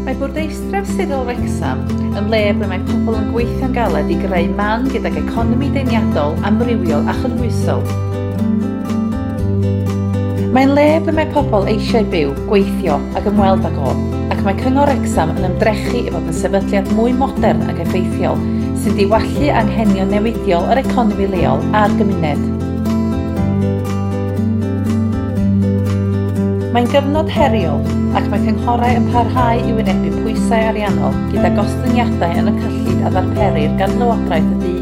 Mae Bwrdeistref Sirol Wrecsam yn le ble mae pobl yn gweithio'n galed i greu man gydag economi deiniadol, amrywiol a chynhwysol. Mae'n le ble mae pobl eisiau byw, gweithio ac ymweld ag o, ac mae Cyngor Wrecsam yn ymdrechu i fod yn sefydliad mwy modern ac effeithiol sy'n diwallu anghenion newidiol yr economi leol a'r gymuned. Mae'n gyfnod heriol ac mae cynghorau yn parhau i wynebu pwysau ariannol gyda gostyngiadau yn y cyllid a ddarperir gan Lywodraeth y du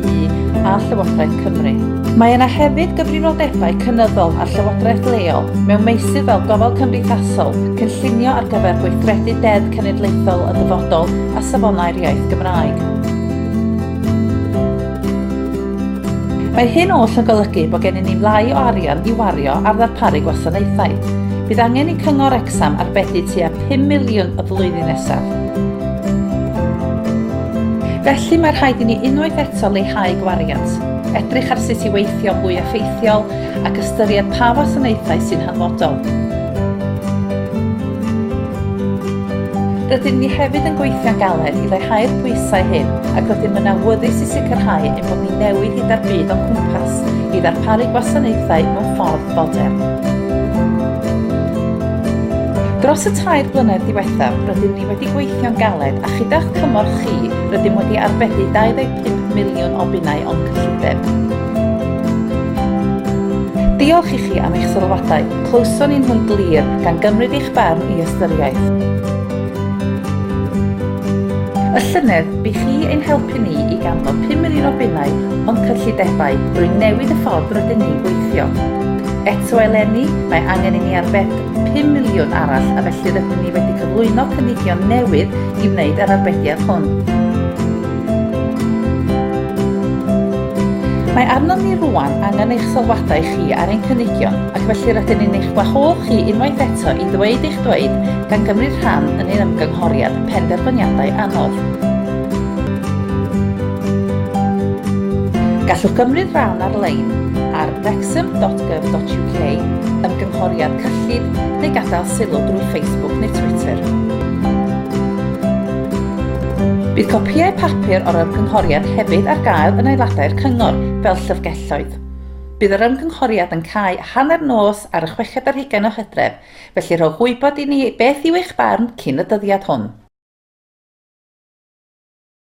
a Llywodraeth Cymru. Mae yna hefyd gyfrifoldebau cynyddol ar llywodraeth leol mewn meysydd fel gofal cymdeithasol, cynllunio ar gyfer gweithredu deddf cenedlaethol y dyfodol a safonau'r iaith Gymraeg. Mae hyn oll yn golygu bod gennym ni lai o arian i wario ar ddarparu gwasanaethau. Bydd angen i Cyngor Wrecsam arbedi tua 5 miliwn y flwyddyn nesaf. Felly mae rhaid i ni unwaith eto leihau gwariant, edrych ar sut i weithio fwy effeithiol ac ystyried pa wasanaethau sy'n hanfodol. Rydyn ni hefyd yn gweithio'n galed i leihau'r pwysau hyn ac rydym yn awyddus i sicrhau ein bod ni'n newid hyd a'r byd o'n cwmpas i ddarparu gwasanaethau mewn ffordd fodern. Dros y tair blynedd diwethaf, rydym ni wedi gweithio'n galed a chyda'ch cymorth chi, rydym wedi arbedi 25 miliwn o bunnau o'n cyllideb. Diolch i chi am eich sylwadau, clywson ni nhw'n glir, gan gymryd eich barn i ystyriaeth. Y llynedd, bu chi ein helpu ni i ganfod pum miliwn o bunnau o'n cyllidebau drwy newid y ffordd rydyn ni'n gweithio. Eto eleni, mae angen i ni arbed pum miliwn arall a felly rydyn ni wedi cyflwyno cynigion newydd i wneud yr arbediad hwn. Mae arnom ni rŵan angen eich sylwadau chi ar ein cynigion ac felly rydyn ni'n eich gwahodd chi unwaith eto i ddweud eich dweud gan gymryd rhan yn ein ymgynghoriad Penderfyniadau Anodd. Gallwch gymryd rhan ar-lein ar wrexham.gov.uk, ymgynghoriad cyllid, neu gadael sylw drwy Facebook neu Twitter. Bydd copïau papur o'r ymgynghoriad hefyd ar gael yn aelodau'r Cyngor fel llyfrgelloedd. Bydd yr ymgynghoriad yn cau hanner nos ar y chweched ar hugain o Hydref, felly rhowch wybod i ni beth yw eich barn cyn y dyddiad hwn.